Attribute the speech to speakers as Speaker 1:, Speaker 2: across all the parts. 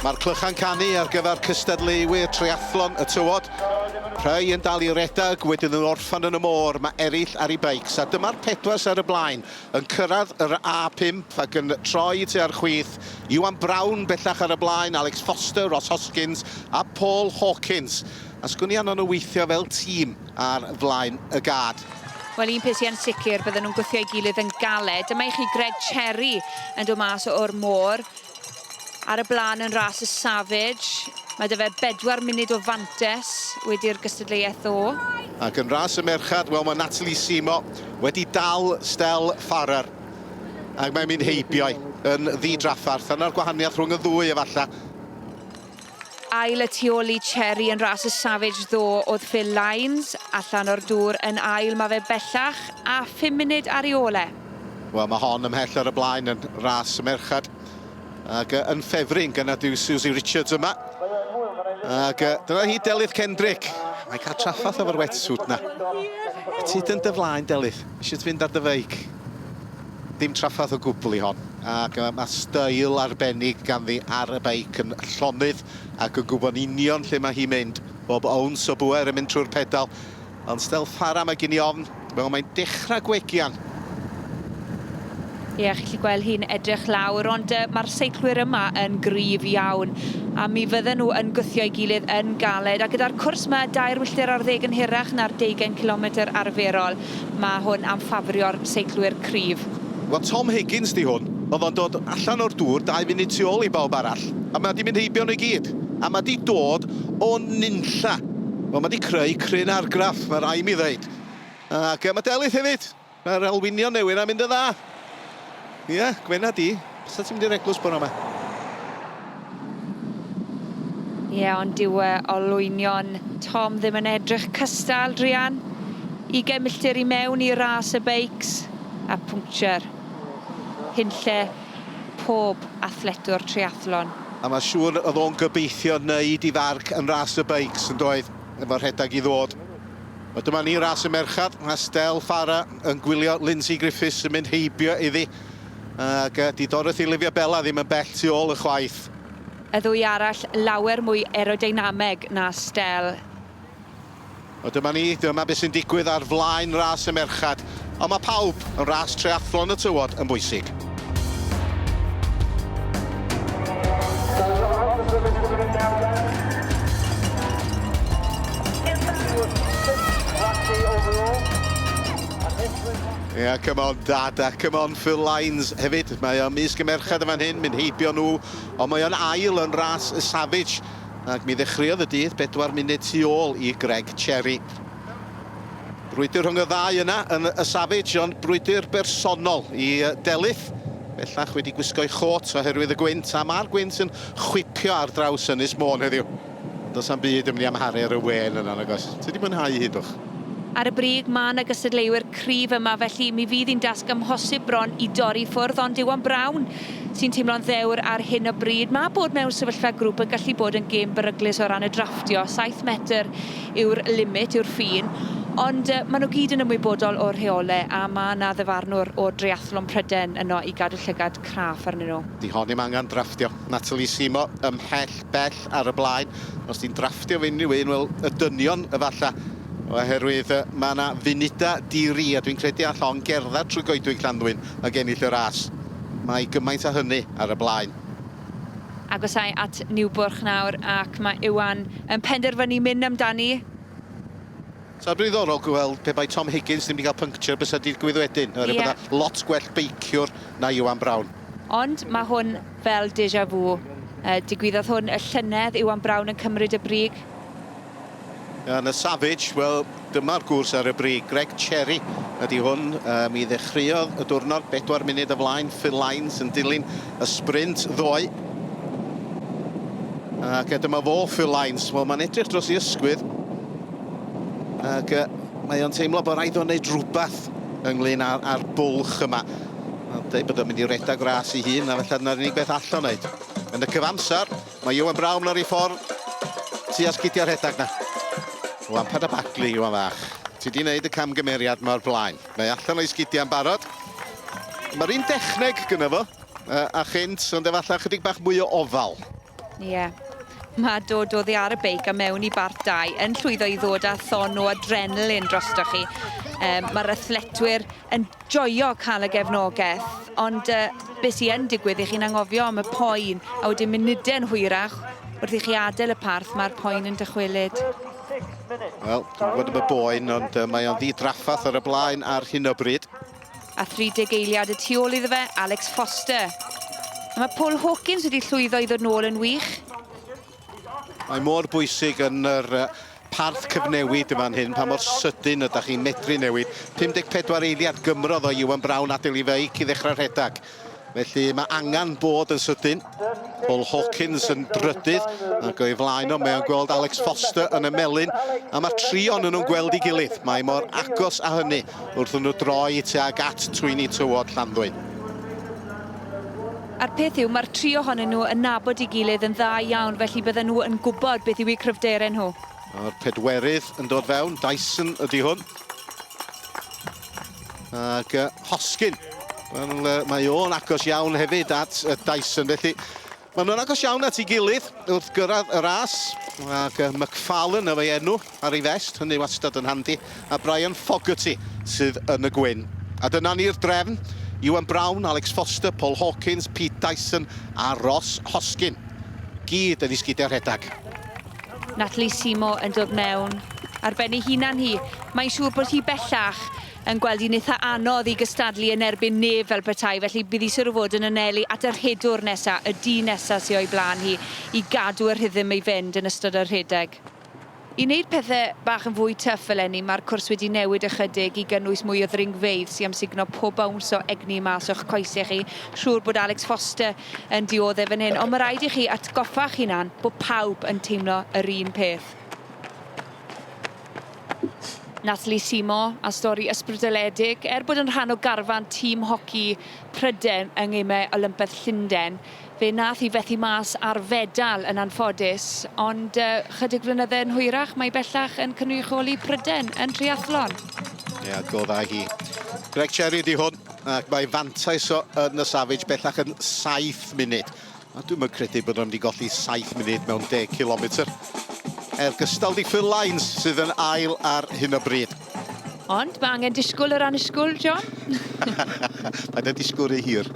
Speaker 1: Mae'r clychau'n canu ar gyfer cystadleuwyr triathlon y tywod. Rhai yn dal i redeg, wedyn yn orffen yn y môr, mae eraill ar i beics, a dyma'r pedwar sy ar y blaen yn cyrraedd yr A5 ac yn troi tua'r chwith, Iwan Brown bellach ar y blaen, Alex Foster, Ross Hoskins a Paul Hawkins. A sgwn i anfon nhw weithio fel tîm ar flaen y gad? Wel, un peth sy yn
Speaker 2: sicr, bydden nhw'n gwthio ei gilydd yn galed. Dyma i chi Greg Cherry yn dod mas o'r môr. Ar y blaen yn ras y Savage. Mae dy fe bedwar munud o fantes wedi'r gystadleuaeth ddo. Ac yn ras y
Speaker 1: merchad, wel mae Natalie Simo wedi dal Stel Farrar. Ac mae'n mynd heibio'i yn ddi-draffarth. Yna'r gwahaniaeth rhwng y ddwy efallai.
Speaker 2: Ail y tu ol i Cherry yn ras y Savage ddo oedd Phil Lines, allan o'r dŵr yn ail mae fe bellach a phum munud ar ei ôl e. Wel mae hon
Speaker 1: ymhell ar y blaen yn ras y merched ac yn ffefryn gynnar yw Susie Richards yma ac dyna hi Delyth Kendrick, mae'n cael traffath efo'r wetsuit 'na. Ti yn dy flaen Delyth, isio ti fynd ar dy feic? Dim trafferth o gwbl i hon, ac mae style arbennig ganddi ar y beic yn llonydd ac yn gwybod union lle mae hi'n mynd, bob owns o bŵer yn mynd trwy'r pedal, ond style fara mae gen i ofn, wel mae'n dechrau gwegian!
Speaker 2: Ie, chi'n gallu gweld hi'n edrych lawr, ond mae'r seiclwyr yma yn gryf iawn, a mi fydden nhw yn gwthio'i gilydd yn galed, a gyda'r cwrs 'ma, dair wylltir ar ddeg yn hirach na'r deugain cilometr arferol. Mae hwn am ffafrio'r seiclwyr cryf. Wel, Tom Higgins
Speaker 1: 'di hwn. Oedd o'n dod allan o'r dŵr dau funud tu ôl i bawb arall, a mae 'di mynd heibio nhw i gyd. A mae 'di dod o nunlla. Wel, mae 'di creu cryn argraff, mae rhaid mi ddeud. Ac mae Delyth hefyd. Mae'r Alwynion newydd 'na'n mynd yn dda. Ie, yeah, gwena di. Bysa ti'n mynd i'r eglwys bore yma?
Speaker 2: Ie, yeah, ond dyw uh, olwynion Tom ddim yn edrych cystal, Drian. 20 milltir i mewn i ras y beics a pwnctiwr. Hunlle pob athletwr triathlon. A mae siŵr
Speaker 1: oedd o'n gobeithio wneud i farc yn ras y beics yn doedd, efo rhedeg i ddod. A dyma ni, ras y merched, Estelle Farrar yn gwylio Lindsay Griffiths yn mynd heibio iddi, ac yy 'di Dorothy Olivia Bella ddim yn bell tu ôl ychwaith. Y ddwy
Speaker 2: arall lawer mwy aerodeinameg na Estelle.
Speaker 1: A dyma ni, dyma be sy'n digwydd ar flaen ras y merched. ond mae pawb yn ras treathlon y tywod yn bwysig. Ie, yeah, come on dad, a come on Phil Lines hefyd. Mae o'n mis gymerchad yma'n hyn, mynd heibio nhw, ond mae o'n ail yn ras y Savage. Ac mi ddechreuodd y dydd bedwar munud tu ôl i Greg Cherry. Brwydr rhwng y ddau yna yn y Savage, ond brwydr bersonol i Delyth. Bellach wedi gwisgo'i chôt oherwydd y gwynt, a mae'r gwynt yn chwipio ar draws Ynys Môn heddiw. Ond does am byd yn mynd i amharu ar y wên yna, nag oes? Ti wedi mwynhau hi, Dwch? Ar y brig,
Speaker 2: mae yna gystadleuwyr cryf yma, felly mi fydd hi'n dasg amhosib bron i dorri i ffwrdd, ond Iwan Brown sy'n teimlo'n ddewr ar hyn o bryd. Mae bod mewn sefyllfa grŵp yn gallu bod yn gêm beryglus o ran y drafftio, saith metr yw'r limit, yw'r ffin, ond yy ma' nw gyd yn ymwybodol o'r rheole a ma' 'na ddyfarnwr o dreiathlon Pryden yno i gadw llygad craff arnyn nhw. Di hon ddim angan drafftio.
Speaker 1: Natalie Simmo ymhell bell ar y blaen. Os ti'n drafftio fy unrhyw un, wel, y dynion efalla, oherwydd yy ma' 'na funuda di-ri a dwi'n credu all hon gerddad trwy goedwig Llanddwyn ag ennill y ras. Mae gymaint a hynny ar y blaen.
Speaker 2: Agosai at Niwbwrch nawr ac mae Iwan yn penderfynu mynd amdani.
Speaker 1: Sa fo'n ddiddorol gweld pe bai Tom Higgins ddim wedi cael pynctiwr bysa digwydd wedyn, oherwydd bod 'na lot gwell beiciwr na Iwan Brown. Ond mae hwn
Speaker 2: fel deja vu. Digwyddodd hwn y llynedd, Iwan Brown yn cymryd y brig.
Speaker 1: Yn y Savage, wel, dyma'r gwrs ar y brig. Greg Cherry ydy hwn. Um, mi ddechreuodd y diwrnod bedwar munud y flaen. Phil Lines yn dilyn y sprint ddoe. Ac e, dyma fo, Phil Lines. Wel, mae'n edrych dros ei ysgwydd. Ac e, mae o'n teimlo bod rhaid o'n wneud rhywbeth ynglyn â'r, ar bwlch yma. Mae'n dweud bod o'n mynd i redag ras i hun, a felly dyna'r unig beth allan wneud. Yn y cyfamser, Mae Iwan Brown ar ei ffordd tua sgidiau rhedeg na. Lampard a Bagley, Iwan fach. Ti di wneud y camgymeriad yma o'r blaen. Mae allan o'i sgidiau yn barod. Mae'r un dechneg gyda fo, a chynt, ond efallai chydig bach mwy o ofal. Ie. Yeah.
Speaker 2: Mae dod o ddi ar y beic a mewn i bart dau yn llwyddo i ddod â thon o adrenalin drostoch chi. Um, Mae'r athletwyr yn joio cael y gefnogaeth, ond yy be sy yn digwydd i chi'n angofio am y poen, a wedyn munude'n hwyrach wrth i chi adael y parth mae'r poen yn dychwelyd.
Speaker 1: Wel, dwi'n gwybod am y boen, ond uh, mae o'n ddidraffath ar y blaen ar hyn o bryd. A 30
Speaker 2: eiliad y tu ôl iddo fe, Alex Foster. A mae Paul Hawkins wedi llwyddo i ddod nôl yn wych.
Speaker 1: Mae mor bwysig yn yr parth cyfnewid yma'n hyn, pa mor sydyn ydych chi'n medru newid. 54 eiliad gymrodd o Iwan Brown adael i feic i ddechrau rhedeg. Felly mae angen bod yn sydyn. Paul Hawkins yn drydydd ac o'i flaen o mae o'n gweld Alex Foster yn y melun a mae tri o'n nhw'n gweld i gilydd. Mae mor agos a hynny wrth nhw droi tuag at twyni tywod Llanddwyn.
Speaker 2: A'r peth yw, mae'r tri ohonyn nhw yn nabod ei gilydd yn dda iawn, felly bydden nhw yn gwybod beth yw eu cryfderau nhw. A'r pedwerydd
Speaker 1: yn dod fewn, Dyson ydy hwn. Ac uh, Hoskin, well, uh, mae o'n agos iawn hefyd at uh, Dyson, felly maen nhw'n agos iawn at ei gilydd wrth gyrraedd y ras. Ac uh, McFarlane y fe enw. ar ei fest, hynny wastad yn handi, a Brian Fogarty sydd yn y gwyn. A dyna ni'r drefn, Iwan Brown, Alex Foster, Paul Hawkins, Pete Dyson a Ross Hoskin. Gyd yn isgidiau rhedeg. Natalie
Speaker 2: Simo yn dod mewn ar ben ei hunan hi. Mae'n siŵr bod hi bellach yn gweld hi'n eitha anodd i gystadlu yn erbyn nef fel petai, felly bydd hi siwr o fod yn anelu at y rhedwr nesa, y dyn nesa sy o'i blaen hi, i gadw y rhythm i fynd yn ystod y rhedeg. I wneud pethe bach yn fwy tyff eleni, mae'r cwrs wedi newid ychydig i gynnwys mwy o ddringfeydd sy am sugno pob bowns o egni mas o'ch coese chi. Siŵr bod Alex Foster yn diodde fan hyn, ond mae rhaid i chi atgoffa'ch hunan bod pawb yn teimlo yr un peth. Nathalie Simon a stori ysbrydoledig. Er bod yn rhan o garfan tîm hoci Pryden yng Ngemau Olympedd Llundain, Fe nath hi fethu mas ar fedal yn anffodus, ond yy chydig flynydde yn hwyrach mae bellach yn cynrychioli Pryden yn triathlon. Ie, adgoddai
Speaker 1: hi. Greg Cherry ydi hwn, ac mae fantais o yn y Savage bellach yn saith munud. A dwi'm yn credu bod nhw'n mynd i golli saith munud mewn deg cilometr. Er gystal di Phil Lines sydd yn ail ar hyn o bryd. Ond mae
Speaker 2: angen disgwyl yr annisgwyl, John.
Speaker 1: Paid â disgwyl rhy hir.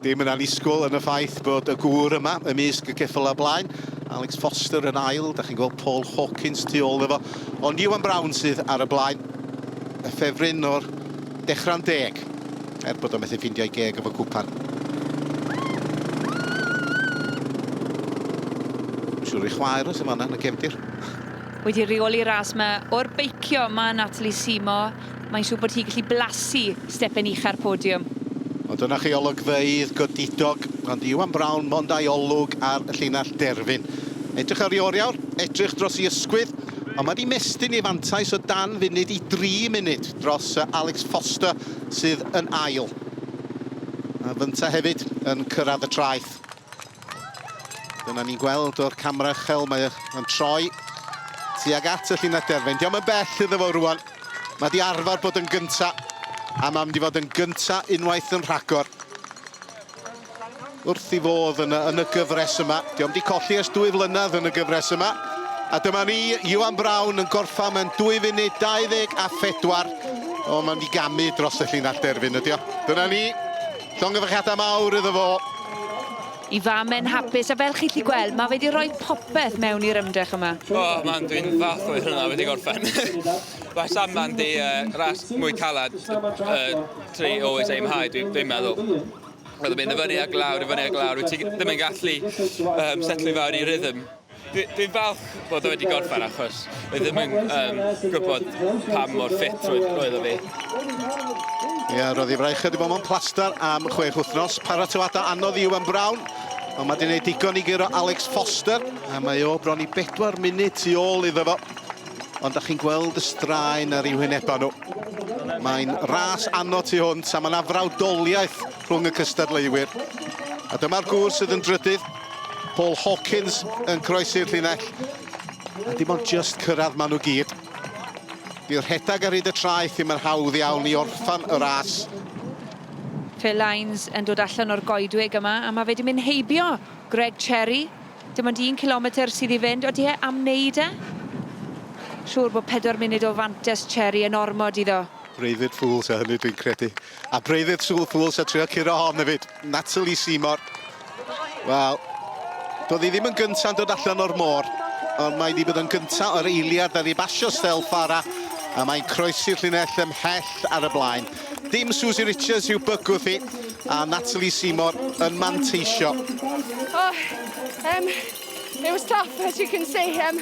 Speaker 1: Dim yn annisgwyl yn y ffaith bod y gŵr yma ymysg y ceffylau blaen. Alex Foster yn ail, da chi'n gweld Paul Hawkins tu ôl efo, ond Iwan Brown sydd ar y blaen. Y ffefryn o'r dechrau'n deg, er bod o methu ffindio'i geg efo cwpan. Siwr i chwaer os yma yna, yn y gefndir. Wedi
Speaker 2: rheoli ras yma o'r beicio, mae Natalie Seymour Mae'n siŵr bod hi gallu blasu stepen ucha'r podiwm. O, dyna chi
Speaker 1: olygfeydd godidog, ond Iwan Brown mond a'i olwg ar y llinell derfyn. Edrych ar ei oriawr, edrych dros ei ysgwydd, ond mae di mestyn ei fantais o dan funud i dri munud dros Alex Foster sydd yn ail. A fynta hefyd yn cyrraedd y traeth. Dyna ni'n gweld o'r camera uchel, mae o'n troi tuag at y llinell derfyn. Diolch yn bell iddo fo rwan. Mae di arfer bod yn gynta, a mae'n mynd i fod yn gynta unwaith yn rhagor. Wrth i fodd yn y, yn y gyfres yma. Diolch di colli ers dwy flynedd yn y gyfres yma. A dyma ni, Iwan Brown yn gorffa mewn 2 funud 24. O, mae'n mynd i gamu dros y llinell derfyn ydi o. Dyna ni. Llongyfarchiadau mawr iddo fo. Y
Speaker 2: fam yn hapus a fel chi'n lli gweld mae fe di rhoi popeth mewn i'r ymdrech yma. O, oh, man, dwi'n falch
Speaker 3: o'i hwnna wedi gorffen. Mae Sam man di uh, ras mwy calad uh, tri always aim high, dwi'n dwi meddwl. Roedd yn mynd i fyny a glawr, i fyny a glawr, wyt ti ddim yn gallu um, setlu fawr i rhythm. Dwi'n falch bod o wedi gorffen achos fi ddim yn um, gwybod pa mor ffit roedd o fi.
Speaker 1: Ie, roedd ei fraich wedi bod mewn plaster am chwech wythnos. Paratoadau anodd i Iwan Brown. Ond mae wedi gwneud digon i gyrro Alex Foster. A mae o bron i bedwar munud tu ôl iddo fo. Ond da chi'n gweld y straen ar ei wynebau nhw. Mae'n ras anno tu hwnt a mae'n afrawdoliaeth rhwng y cystadleuwyr. A dyma'r gŵr sydd yn drydydd, Paul Hawkins yn croesi'r llinell. A dim ond just cyrraedd maen nhw gyd. Di rhedag ar hyd y traeth ddim yn hawdd iawn i orffan y ras.
Speaker 2: Phil Lines yn dod allan o'r goedwig yma, a mae fe di mynd heibio Greg Cherry. Dim ond un kilometr sydd i fynd, odi e am wneud e? Siŵr bod pedwar munud o fantes Cherry yn ormod iddo. Breuddwyd Fool ta
Speaker 1: hynny dwi'n credu. A Breuddwyd Sŵl Fool sa trio curo hon hefyd. Natalie Seymour. Wel, doedd hi ddim yn gynta'n dod allan o'r môr, ond mae wedi bod yn gynta o'r eiliad ar ei basio stel Fara, a mae'n croesi'r llinell ymhell ar y blaen. Dim Susie Richards i'w bygwth hi, a Natalie Seymour yn manteisio. Oh, um,
Speaker 4: it was tough, as you can see. Um,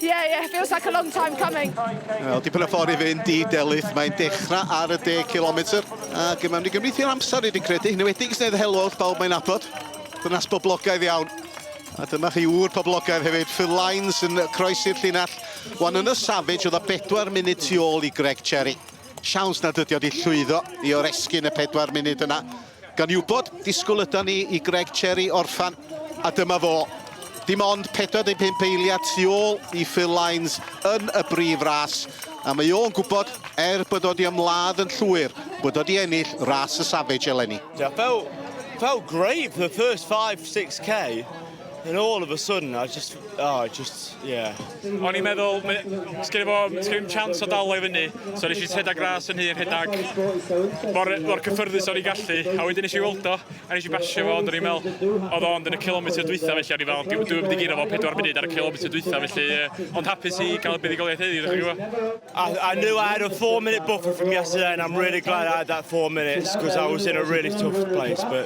Speaker 4: Yeah, yeah, feels like a long time coming. Wel, dipyn o ffordd
Speaker 1: i fynd i Delyth. Mae'n dechrau ar y 10 km. Ac mae'n mynd i gymryd i'r amser i di credu. Yn wedi gysnedd helwch, bawb mae'n abod. Dynas boblogaidd iawn. A dyma chi ŵr poblogaidd hefyd. Phil Lines yn croesi'r llinell. Wan yn y Savage oedd a bedwar munud tu ôl i Greg Cherry. Siawns nad ydi o di llwyddo i oresgyn y pedwar munud yna. Gan wybod, disgwyl ydan ni i Greg Cherry orffen, a dyma fo. Dim ond 45 eiliad tu ôl i Phil Lines yn y brif ras, a mae o'n gwybod, er bod o 'di ymladd yn llwyr, bod o 'di ennill ras y Savage eleni. Fel,
Speaker 5: fel grêt, the first five, six k. And all of a sudden, I just, oh, I just, yeah. O'n i'n
Speaker 6: meddwl, sgyn i fo, sgyn i'n chance o dal o'i fyny, so nes i rhedeg ras yn hyn, rhedeg mor, mor cyffyrddus o'n i'n gallu, a wedyn nes i weld o, a nes i basio fo, ond o'n i'n meddwl, oedd o'n yn y kilometr dwytha, felly o'n i'n meddwl, dwi'n mynd i giro fo 4 munud ar y kilometr dwytha, felly, ond hapus i gael y buddigoliaeth heddiw, ddech chi'n gwybod. I, I knew I had a
Speaker 5: four minute buffer from yesterday, and I'm really glad I had that four minutes because I was in a really tough place, but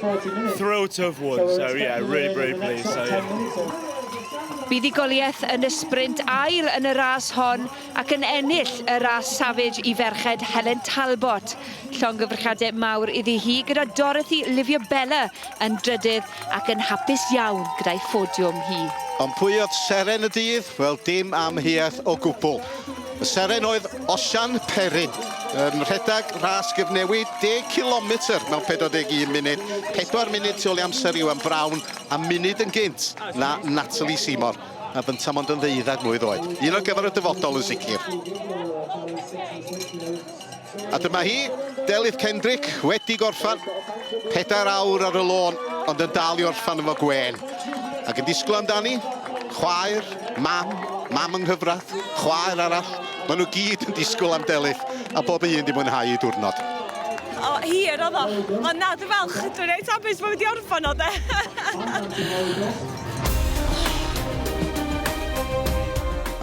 Speaker 5: thrilled to have won. So, yeah, really, really pleased. So, yeah. Buddugoliaeth
Speaker 2: yn y sprint ail yn y ras hon ac yn ennill y ras Savage i ferched Helen Talbot. Llongyfrchadau mawr iddi hi gyda Dorothy Livia Bella yn drydydd ac yn hapus iawn gyda'i ffodiwm hi. Ond pwy oedd
Speaker 1: seren y dydd? Wel, dim amheuaeth o gwbl. Y seren oedd Osian Perrin yn rhedeg ras gyfnewid 10 km mewn 41 munud, 4 munud tu ôl i amser Iwan Brown a munud yn gynt na Natalie Seymour a bynta mond yn ddeuddeg mlwydd oed. Un ar gyfer y dyfodol yn sicr. A dyma hi, Delyth Kendrick, wedi gorffan. Pedair awr ar y lôn, ond yn dal i orffan efo gwên. Ac yn disgwyl amdani, chwaer, mam, mam yng nghyfradd, chwaer arall. Maen nhw gyd yn disgwyl am Delyth, a bob un di mwynhau ei diwrnod. O,
Speaker 7: hir oedd o. Ond na, dwi'n falch. Dwi'n reit hapus bod fi wedi orffan o, de.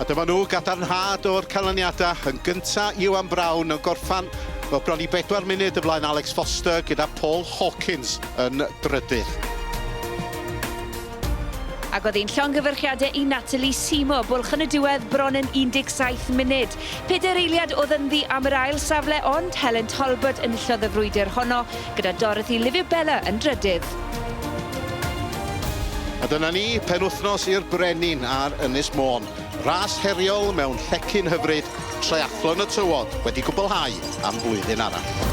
Speaker 1: A dyma nhw, gadarnhad o'r canlyniadau. Yn gyntaf, Iwan Brown yn gorffan o bron i bedwar munud y flaen Alex Foster gyda Paul Hawkins yn drydydd.
Speaker 2: Ac oedd ein llongyfarchiadau i Natalie Seymour, bwlch yn y diwedd bron yn 17 munud. Pedair eiliad oedd ynddi am yr ail safle ond Helen Talbot enillodd y frwydr honno. gyda Dorothy Liviu-Bella yn drydydd.
Speaker 1: A dyna ni, penwythnos i'r Brenin ar Ynys Môn. Ras heriol mewn llecyn hyfryd, Triathlon y Tywod wedi cwblhau am flwyddyn arall.